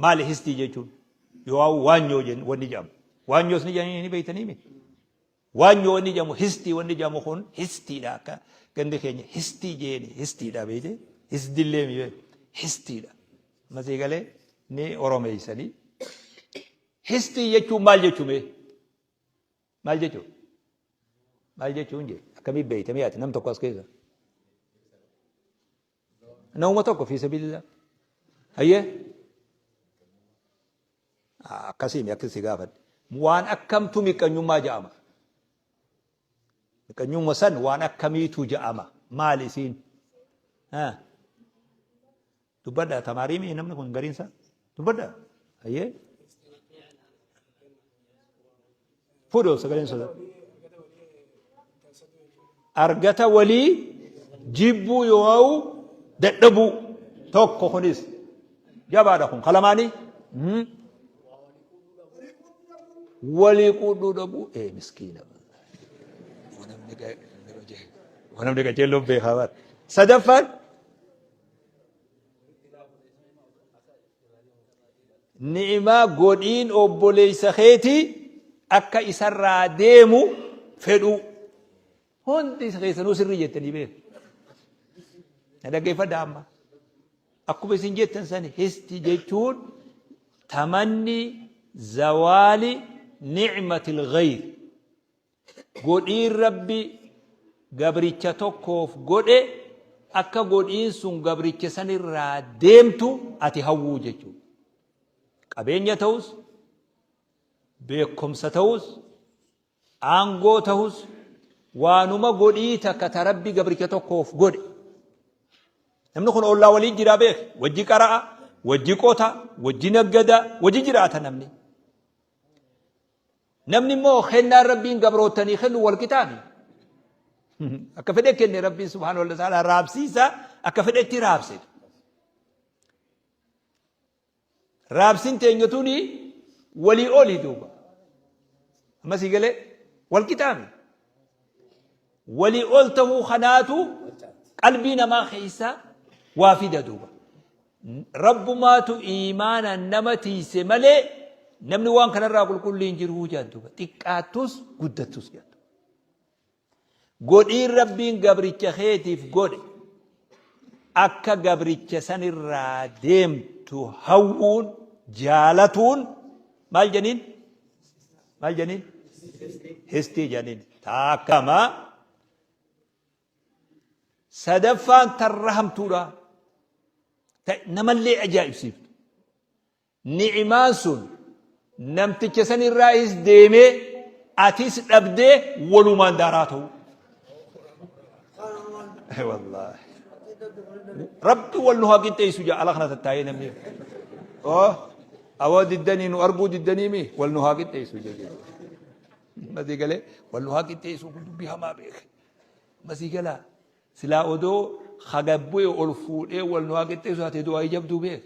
Maali histii jechuun? Yoo'aa waanyoo jen- wanni jedhamu. Waanyoos ni jedhanii ni beektanii miti. Waanyoo wanni jedhamu histii wanni jedhamu kun histiidha akka gandi keenya histii jeeni histiidha beekte hisdillee mi beekte histiidha. Masii galee ni oromeessanii. Histii jechuun maal jechuu mee? Maal jechuu? Maal jechuun jee? Akkamii beekte mi'aati nam tokko as keessa? Nauma tokko fi sabilillah. Hayyee. Akkasiin akkas si gaafadhe. Waan akkamtu miqqanyummaa ja'ama. Miqqanyumma san waan akkamiitu ja'ama. Maal isiin? Dubbadha tamaariimii namni kun gariinsaa? Dubbadha. Ayyee. Fuudhu sagaleen sodaa. Argata walii jibbuu yoo ha'u dadhabuu tokko kunis jabaadha kun kalamaanii. Mhm. Walii quudhuu dhabuu ee miskiina. Wanamni qajeelloon beekaa baata. Sadaffaan ni'imaa godhiin obboleessa keetii akka isarraa deemu fedhuu hundi isa keessanuu sirrii jettanii beeku na dhaggeeffadha amma akkuma isin jettan san histi jechuun tamanni zawaali ni'matil ghayr Godhiin Rabbi gabricha tokkoof godhe akka godhiin sun gabricha san irraa deemtu ati hawwuu jechuudha. Qabeenya ta'us, beekumsa ta'us, aangoo ta'us, waanuma godhii takka ta Rabbi gabricha tokkoof godhe. Namni kun ollaa waliin jiraa beek, wajji qara'a, wajji qota, wajji naggada, wajji jiraata namni. Namni immoo kennaan Rabbiin gabroottanii kennu wal qixaa mi? Akka fedhe kenne Rabbiin subhaanahu wa ta'ala raabsiisa akka fedhetti raabse. Raabsin teenya tuni walii oli duuba. Ammas galee wal qixaa mi? Walii ol ta'uu kanaatu qalbii namaa keessaa waa fida duuba. Rabbumaatu iimaanaan nama tiiyse malee namni waan kanarraa qulqullii hin jiruu jedhan duuba. Xiqqaattus guddattus jedhan duuba. Godhiin Rabbiin gabricha keetiif godhe akka gabricha sanirraa deemtu hawwuun jaalatuun maal jedhaniin? Maal jedhaniin? Histii jedhaniin. Taakkamaa Sadaffaan tarra hamtuudha. Ta namallee ajaa'ibsiiftu. Ni'imaan sun namticha san irraahis deemee atis dhabdee walumaan daaraa ta'u. Wallaahi. Rabbi wal nu haa qixxeessu jaa ala kana tattaa'ee namni. Oh, awoo diddanii nu arguu diddanii mi wal nu haa qixxeessu jaa. Mati galee wal nu haa qixxeessu kun dubbii hamaa beeke. Masii galaa silaa odoo ha gad bu'e ol fuudhee wal nu haa qixxeessu taate du'aayi jabduu beek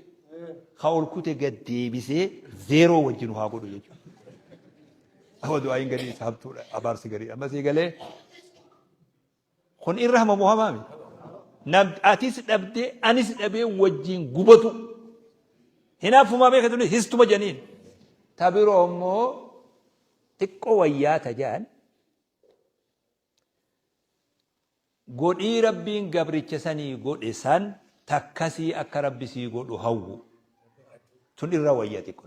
ha ol kute gad deebisee zeeroo wajji nu haa godhu jechuudha. Amma du'aayin gadii isa hamtuudha abaarsi gariidha masii galee kun irra hamamu hamaa miti. Nam atis dhabdee anis dhabee wajjin gubatu hinaaffumaa beeka tuni histuma janiin ta biroo immoo xiqqoo wayyaa tajaan Godhii Rabbiin gabricha sanii godhe san takkasii akka Rabbi sii godhu hawwu. Tun irra wayya xiqqo.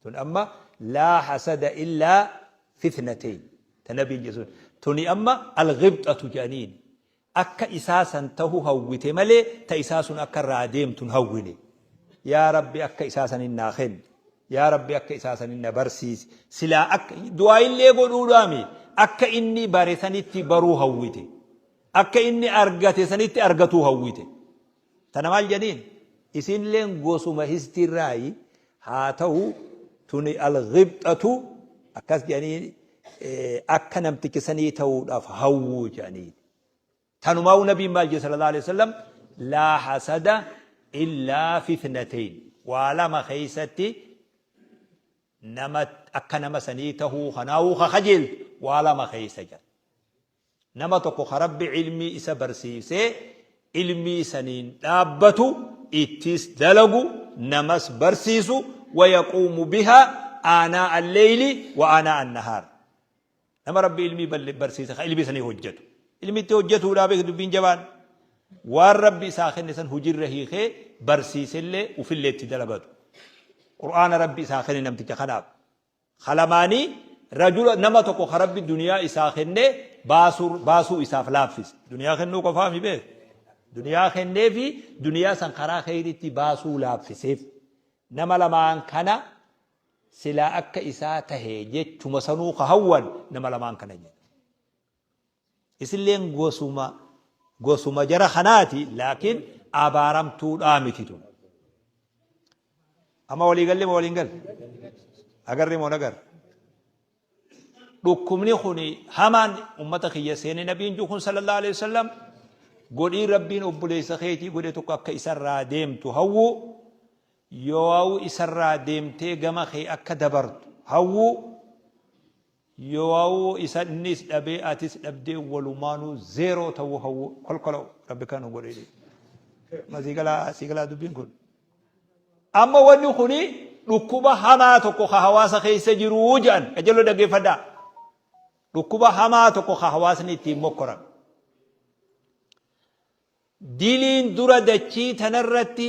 Tun amma laa hasada illaa fitnateyn. Ta nabiin jechuun. Tuni amma alghibxatu jedhaniin. akka isaa san tahu hawwite malee ta isaa sun akka irraa deemtu hin hawwine. Yaa Rabbi akka isaa sanin naa kenni. Yaa Rabbi akka isaa sanin na barsiisi. Silaa akka, du'aa'illee godhuudhaa mi? Akka inni bare sanitti baruu hawwite. Akka inni argate sanitti argatuu hawwite. Tana maal janiin isiinleen gosuma histiirraayi haa ta'u tuni alghibxatu akkas janiin akka namticha sanii ta'uudhaaf hawwuu janiin. Tanumaa'u nabiin maal jedhe sallallahu alaihi wasallam laa hasada illaa fitnateyn waa lama keessatti nama akka nama sanii ta'uu kanaa'uu ka kajeeltu waa lama keessa jira. Nama tokko ka Rabbi ilmii isa barsiisee ilmii saniin dhaabbatu, ittiis dalagu, namas barsiisu, wayaquumu bihaa aanaa'a al-leeyli wa aanaa'a an-nahaar. Nama Rabbi ilmii barsiise ka ilmii sanii hojjatu. Ilmi itti hojjatuudha beeki dubbiin jabaan. Waan Rabbi isaa kenne san hujirra hiikee barsiisellee ufillee itti dalagatu. Qur'aana Rabbi isaa kenne namticha kanaaf. Ka lamaanii, rajula, nama tokko ka Rabbi duniyaa isaa kennee baasuu, baasuu isaaf laaffise. Duniyaa kennuu qofaa mi beek? Duniyaa kenneefi duniyaa san karaa kheyriitti baasuu laaffiseef. Nama lamaan kana silaa akka isaa tahe jechuma sanuu ka hawwan nama lamaan kana jedha. Isilleen gosuma gosuma jara kanaati laakiin abaaramtuudhaa miti tun. Amma walii galle moo waliin galle? Agarre moo nagarre? Dhukkubni kuni hamaan ummata kiyya seene nabiin juu kun sallallahu alaihi wasallam godhii rabbiin obboleessa keetii godhe tokko akka isarraa deemtu hawwuu yoo isarraa deemtee gama kee akka dabartu hawwuu Yowawu isa innis dhabee atis dhabdee walumaanu zero ta'uu hawwu kolkolawu rabbi kan nu godhe ma sii galaa sii galaa dubbiin kun amma wanni kuni dhukkuba hamaa tokko ka hawaasa keessa jiru jedhan qajeeloo dhaggeeffadhaa dhukkuba hamaa tokko ka hawaasni ittiin mokkoran diliin dura dachii tanarratti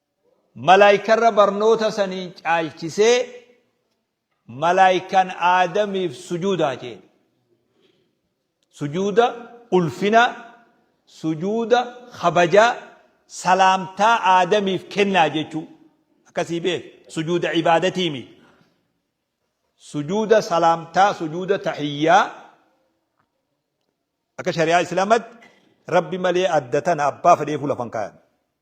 Malaaykarra barnoota saniin caalchisee malaaykan Aadamiif sujuudaa jeen. Sujuuda ulfinaa, sujuuda kabajaa, salaamtaa Aadamiif kennaa jechuu. Akkasii beek sujuuda ibaadatii miti. Sujuuda salaamtaa, sujuuda tahiyyaa akka shari'aa islaamatti rabbi malee adda tana abbaa fedheefuu lafan kaayan.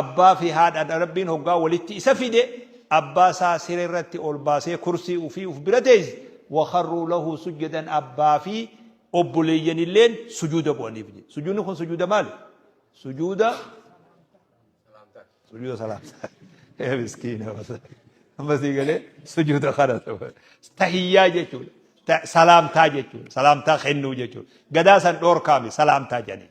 Abbaa fi haadha dha Rabbiin hoggaa walitti isa fide abbaa isaa siree irratti ol baasee kursii ufii uf bira teeyse wakharruu lahu sujjadan abbaa fi obboleeyyan illeen sujuuda bu'aniif jedhe sujuudni kun sujuuda maali sujuuda sujuuda salaamtaa ee miskiina amma sii galee sujuuda kana tahiyyaa jechuudha Ta- salaamtaa jechuudha salaamtaa kennuu jechuudha gadaa san dhoorkaame salaamtaa jedhanii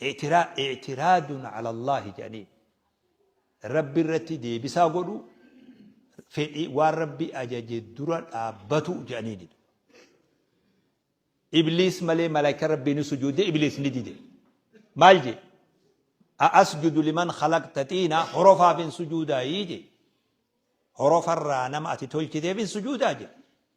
Ictiraadun calallaahi jedhaniin. Rabbi irratti deebisaa godhu fedhii waan rabbi ajaje dura dhaabbatu jedhaniin. Ibliis malee malaayika rabbii ni sujuude ibliis ni dide. Maal jee? Asjudu liman khalaqta xiina horofaaf hin sujuudaa jee. Horofarraa nama ati tolchiteef hin sujuudaa jee.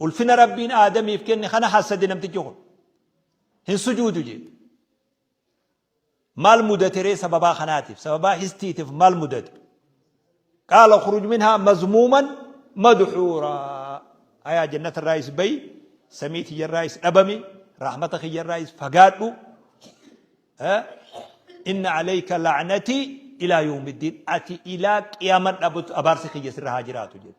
Ulfina Rabbiin Aadamiif kenne kana hassade namtichi kun. Hin sujuudu jee. Maal mudate ree sababaa kanaatiif? Sababaa histiitiif maal mudate? Qaala khuruj minhaa mazmuuman madhuuraa. Ayaa jannata irraa is bayi, samii tiyya irraa is dhabami, rahmata kiyya irraa is fagaadhu. Inna alayka la'natii ilaa yawmiddiin. Ati ilaa qiyaaman dhabutu abaarsi kiyya sirra haa jiraatu jedhe.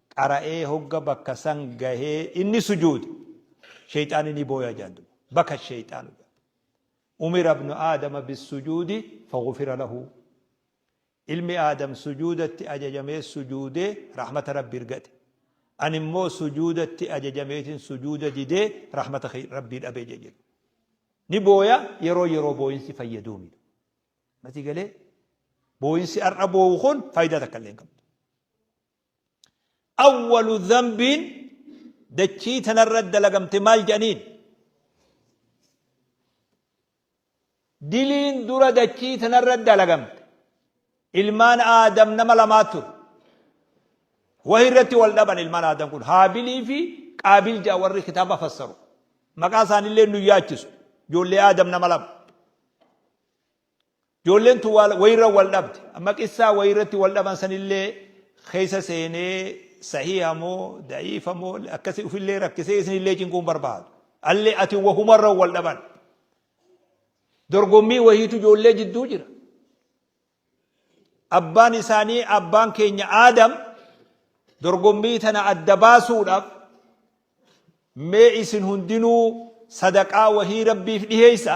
qara'ee hogga bakka san gahee inni sujuude sheyxaanni ni booya jaan duba baka sheyxaanu jaan umira ibnu aadama bissujuudi fagufira lahu ilmi aadam sujuudatti ajajamee sujuudee rahmata rabbi irgate an immoo sujuudatti ajajameetiin sujuuda didee rahmata rabbii dhabee jedhu ni booya yeroo yeroo booyinsi fayyaduu miidhu mati galee booyinsi har'a boowu kun faayidaa takka illee hin qabdu Awwalu dhanbiin dachii tanarra dalagamte maal jedhaniin? Diliin dura dachii tanarra dalagamte ilmaan aadam nama lamaa ture. Wahi irratti wal dhaban ilmaan aadam kun haabilii fi qaabil ja'a warri kitaaba fassaru. Maqaa isaanillee nu yaachisu. Ijoollee aadam nama lama. Ijoolleen tun wayirra wal dhabde. Amma qissaa wayirratti wal dhaban sanillee keessa seenee sahiiha moo da'iifa moo akkasi ufillee rakkisee isinillee cinquu hin barbaadu. Allee ati wahumarra wal dhaban. Dorgommii wahiitu ijoollee jidduu jira. Abbaan isaanii abbaan keenya Aadam dorgommii tana adda baasuudhaaf mee isin hundinuu sadaqaa wahii rabbiif dhiheessa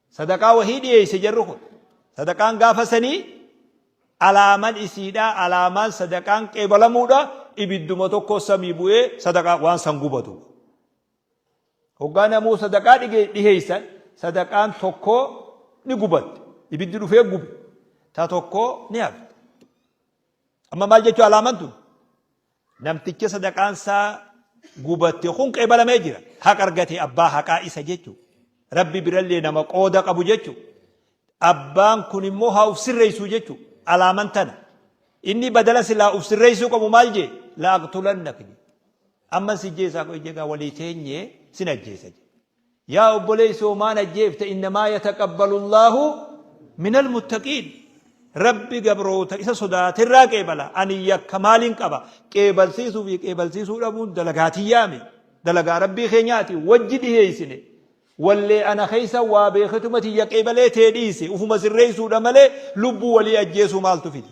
Sadaqaa wahii dhiyeeyse jarri kun. Sadaqaan gaafa sanii alaaman isiidha, alaamaan sadaqaan qeebalamuudha, ibidduma tokko samii bu'ee sadaqaa waan san gubatu. Hoggaa namuu sadaqaa dhiheeysan sadaqaan tokko ni gubatte. Ibiddi dhufee gube. Ta tokko ni hafte. Amma maal jechuu alaaman tun? Namticha sadaqaan isaa gubatte kun qeebalamee jira. Haqa argate abbaa haqaa isa jechu. Rabbi birallee nama qooda qabu jechu. Abbaan kun immoo haa uf sirreessu jechu. Alaaman tana. Inni badala silaa uf sirreessuu qabu maal jee? Laaqtulannak. Amman si jeesaa qoy jegaa walii teenyee sin ajjeesa jee. Yaa obboleeysa hoo maan ajjeefta innamaa yataqabbalu Allaahu minal muttaqiin Rabbi gabroota isa sodaaterraa qeebala ani yakka maaliin qaba qeebalsiisuu fi qeebalsiisuu dhabuun dalagaa tiyyaa mi dalagaa Rabbii keenyaati wajji dhiheeysine wallee ana keeysa waa beeketuma tiyya qeebalee tee dhiise ufuma sirreeysuudha malee lubbuu walii ajjeesuu maaltu fide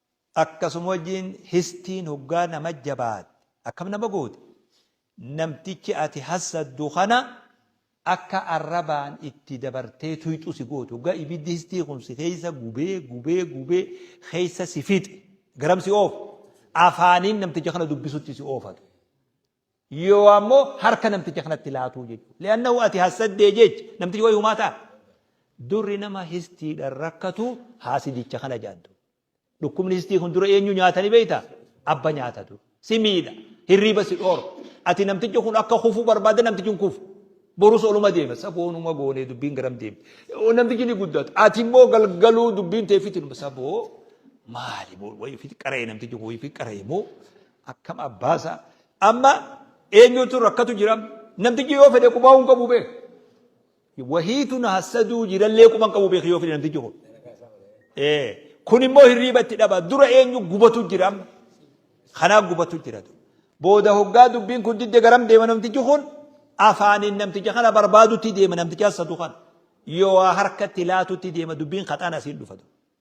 Akkasuma wajjiin histiin hoggaa nama jabaatte akkam nama gooti? Namtichi ati hassaddu kana akka arrabaan itti dabartee tuyxu si gooti. Hoggaa ibiddi histii kun si keessa gubee gubee gubee keessa si fixe garam si oofa? Afaaniin namticha kana dubbisutti si oofata. Yihowaa immoo harka namticha kanatti laatuu jechuudha. Li'annahu ati hassaddee jecha namtichi wayi humaa ta'a. Durri nama histiidhaan rakkatu haasidicha kana jaaddu. Dhukkubni histii kun dura eenyu nyaata ni beekta? Abba nyaata dura. Si miidha. Hirriiba si dhoora. Ati namtichi kun akka kufu barbaadda namtichi hin kufu. Borus oluma deema. Saboonuma goonee dubbiin garam deemti. Namtichi ni guddata. Ati immoo galgaluu dubbiin teeffitinuma saboo maali wayi ofitti qara'e namtichi kun wayi ofitti qara'e moo Akkam abbaa isaa. Amma eenyutu rakkatu jira? Namtichi yoo fedhe qubaa'uu hin qabu beek. Wahiitu na hassaduu jirallee quba hin qabu beek yoo fedhe namtichi kun. Ee kun immoo hirriiba itti dhaba. Dura eenyu gubatu jira? Kanaa gubatu jira. Booda hoggaa dubbiin kun didde garam deema namtichi kun? Afaaniin namticha kana barbaadutti deema namticha hassadu kana. Yoo waa harkatti laatutti deema dubbiin kaxaan asiin dhufatu.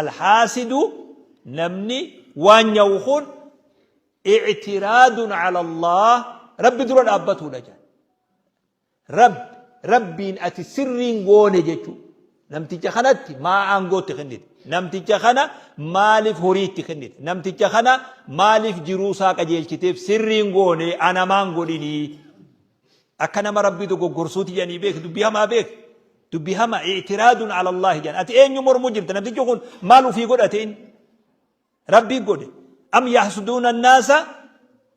Alhaasidu namni waan nyawu kun ictiraadun cala Allaah Rabbi dura dhaabbatuudha jedhan. Rabbi Rabbiin ati sirrii hin goone jechuu. Namticha kanatti maa aangoo itti kennite? Namticha kana maaliif horii itti kennite? Namticha kana maaliif jiruu isaa qajeelchiteef sirrii hin goone anamaan godhinii? Akka nama Rabbii dogoggorsuuti jedhanii beeki dubbii hamaa beeki. Dubbi hama i'tiraadun ala Allahi jedhan. Ati eenyu mormu jirta? Namtichi kun maal ufii godhate inni? Rabbii godhe. Am yahsuduuna annaasa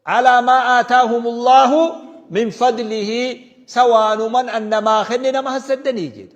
alaa maa aataahum Allahu min fadlihi sawaanuman annamaa kenne nama hassaddanii jedhe.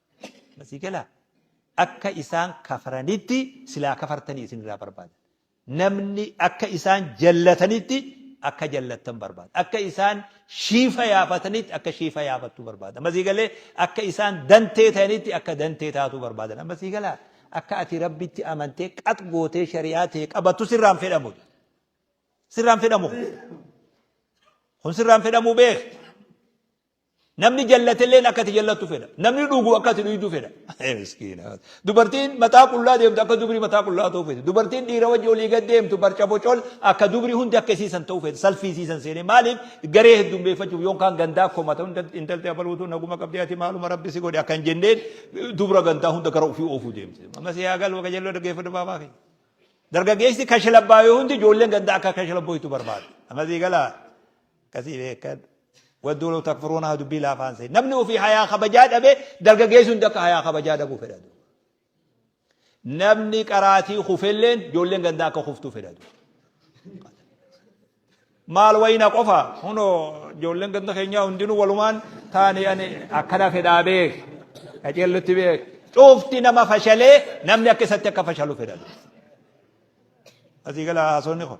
Asii galaa? Akka isaan kafaranitti silaa kafartanii isin irraa barbaadan. Namni akka isaan jallatanitti akka jallattan barbaada. Akka isaan shiifa yaafatanitti akka shiifa yaafattu barbaada. Amma sii galee akka isaan dantee ta'anitti akka dantee taatu barbaadan. Amma sii galaa? Akka ati rabbitti amantee qax gootee shari'aa ta'e qabattu sirraan fedhamu. Sirraan fedhamu. Kun sirraan fedhamu beek. Namni jallatelleen akka ati jallattu fedha. Namni dhugu akka ati dhuydu fedha. Miskiina. Dubartiin mataa qullaa deemtu akka dubri mataa qullaa ta'uu fedha. Dubartiin dhiira wajji olii gad deemtu barca bocol akka dubri hundi akka isiisan ta'uu fedha. Salfiisiisan seenee maaliif garee heddummeeffachuuf yoon kaan gandaa komata intalti abaluutu naguma qabdi ati maaluma rabbi si godhe akka hin jenneen dubra gandaa hunda gara ofii oofuu deemti. Amma si yaa galu akka jalloo dhaggeeffadhu baabaa keenya. Dargaggeessi kashlabbaa yoo hundi ijoolleen gandaa akka kashlabbooytu barbaada. Amma si galaa. Akkasii beekadhu. Wadduu law takfuruuna haa dubbii laafaan seeni. Namni ofii hayaa kabajaa dhabe dargaggeessi hundi akka hayaa kabajaa dhabuu fedha duuba. Namni qaraatii kufelleen ijoolleen gandaa akka kuftuu fedha duuba. Maal wayina qofa hunoo ijoolleen ganda keenyaa hundinuu walumaan taane ani akkana fedhaa beek. Qajeellutti beek. Cuufti nama fashalee namni akka isatti akka fashalu fedha duuba. Asii gala haasonni kun.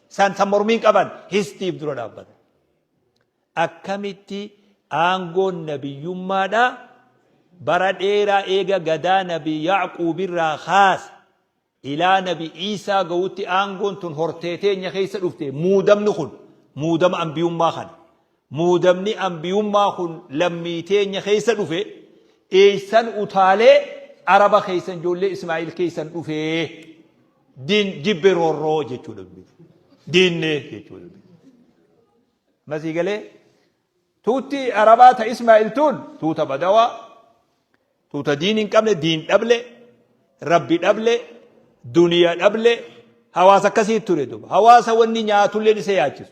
Isaan kan mormiin qaban histiif dura dhaabbata. Akkamitti aangoon nabiyyummaadha bara dheeraa eega gadaa nabi Yaaquubirraa kaase ilaa nabi Iisaa ga'utti aangoon tun hortee teenya keessa dhufte muudamni kun muudama ambiyummaa kana. Muudamni anbiyummaa kun lammii teenya keessa dhufe eessan utaalee araba keessan ijoollee Ismaa'il keessan dhufe din jibbe roorroo jechuu dhabbi diinne jechuu dhabbi masii galee tuutti arabaa ta Ismaa'il tuun tuuta badawaa tuuta diin hin qabne diin dhable rabbi dhable duniya dhable hawaasa akkasii ture duba hawaasa wanni nyaatulleen isa yaachisu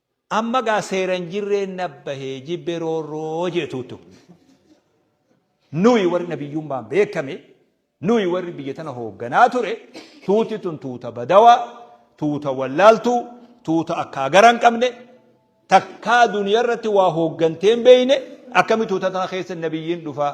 Amma gaa seera hin jirreen nabbahe jibbe roorroo jeetuutu. Nuyi warri nabiyyummaan beekame, nuyi warri biyya tana hoogganaa ture, tuuti tun tuuta badawaa, tuuta wallaaltuu, tuuta akkaa gara hin qabne, takkaa duniyaa irratti waa hooggantee hin beeyne, akkami tuuta tana keessa nabiyyiin dhufaa?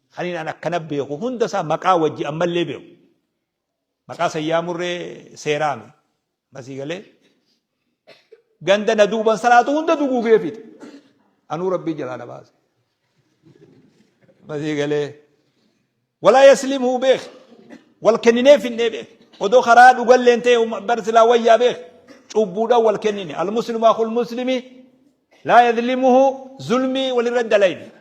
Kaniin an akkana beeku hunda isaa maqaa wajji ammallee beeku. Maqaa san yaamurree seeraami. Masii galee. Ganda na duuban salaatu hunda duguugee fixe. Anuu rabbii jalaa na baase. Masii galee. Walaa yaslimuu beek. Wal kenninee finnee beek. Odoo karaa dhugalleen ta'e bar silaa wayyaa beek. Cubbuudhaan wal kennine. Al muslimu akul muslimi laa yadlimuhu zulmii walirra dalayne.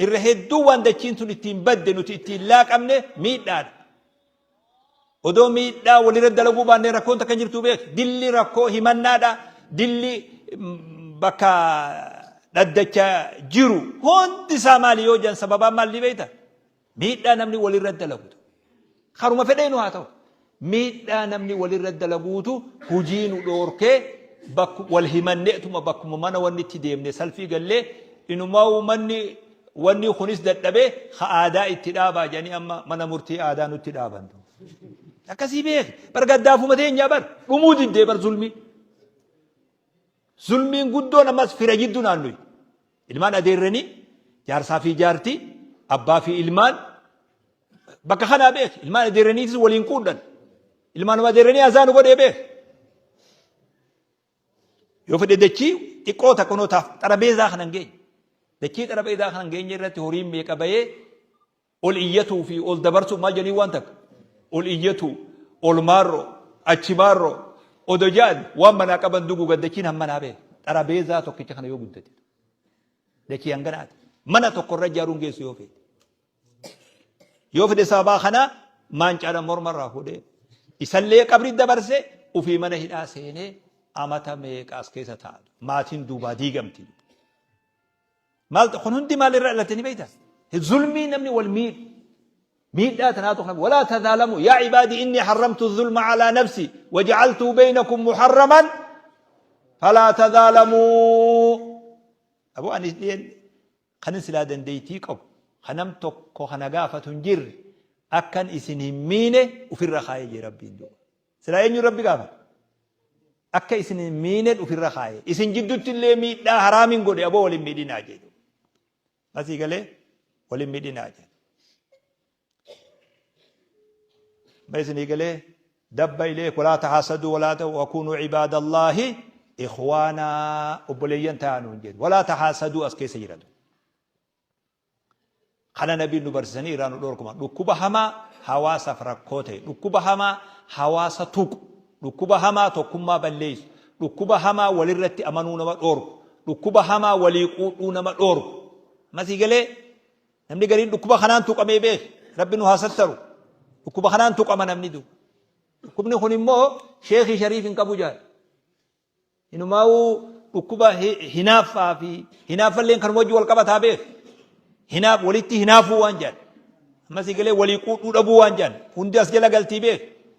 Irra hedduu waan dachiin tun ittiin badde nuti ittiin laaqamne miidhaadha. Odoo miidhaa walirra dalaguu baannee rakkoon takka jirtu beek. Dilli rakkoo himannaadha. Dilli bakka dhaddacha jiru hundi isaa maali yoo jedhan sababaan maal ni beekta? Miidhaa namni walirra dalagutu karuma fedheenu haa ta'u miidhaa namni walirra dalaguutu hujii nu dhoorkee bakku wal himanneetuma bakkuma mana wanni itti deemne salfii gallee inumaa manni wanni kunis dadhabee ka aadaa itti dhaabaa jedhanii amma mana murtii aadaa nutti dhaaban. Akkasii beeki bar gaddaafuma teenyaa bar dhumuu diddee bar zulmii. Zulmiin guddoon ammas fira jidduu naannoyi. Ilmaan adeerranii, jaarsaa fi jaartii, abbaa fi ilmaan bakka kanaa beeki. Ilmaan adeerraniitis waliin quudhan. Ilmaanuma adeerranii azaa nu godhee beeki. Yoo fedhe dachii xiqqoo takka noo taaf xarabeezaa kana hin geenye. Dachii xarabeezaa kana hin geenye irratti horiin meeqa bahee Ol iyyatuu fi ol dabarsuun maal jedhanii waan takka? Ol iyyatuu, ol maarroo, achi maarroo, odo ja'an waan manaa qaban duguugan dachiin hammanaa bee. Xarabeezaa tokkicha kana yoo guddate. Dachii hanganaati. Mana tokko irra ijaaruun geessu yoo feete. Yoo fide sababaa kana maancaadhaan morma irraa fuudhee isallee qabri dabarse ofii mana hidhaa seenee amata meeqaas keessa taa'atu. Maatiin duubaa diigamti. Maal kun hundi maal irraa dhalate ni beekta? Zulmii namni wal miidhu. Miidhaa tanaatu kana walaa tazaalamu yaa ibaadii inni harramtu zulma alaa nafsi wajacaltuu beeynakum muharraman falaa tazaalamuu. Aboo anis dhiyeen kanin silaa dandeeytii qabu kanam tokko kana gaafatu hin jirre akkan isin hin miine ofirra kaayee jee rabbiin duuba. Silaa eenyuun Rabbi gaafata? Akka isin hin miined ufirra kaaye. Isin jiddutti illee miidhaa haraamin godhe aboo wal hin miidhinaa jedhu. Asii galee wal hin miidhinaa jedhu. Ma isinii galee dabba ilee walaa tahaasadu walaa ta'u wakuunuu cibaadallaahi ikhwaanaa obboleeyyan ta'aa nuun jedhu. Walaa tahaasadu as keessa jiratu. Kana nabiin nu barsisanii irraa nu dhorkuma. Dhukkuba hamaa hawaasaaf rakkoo ta'e, dhukkuba hamaa hawaasa tuqu, dhukkuba hamaa tokkummaa balleessu, dhukkuba hamaa walirratti amanuu nama dhorku, dhukkuba hamaa walii quudhuu nama dhorku. Masii galee namni gariin dhukkuba kanaan tuqamee beek. Rabbi nu haa sattaru. Dhukkuba kanaan tuqama namni du. Dhukkubni kun immoo sheekii shariif hin qabu jaal. Inumaawuu dhukkuba hinaaffaa fi hinaaffalleen kanuma wajjin wal qabataa beek. Hinaaf walitti hinaafuu waan jedhan. Ammas eegalee walii quudhuu dhabuu waan jedhan. Hundi as jala galtii beek.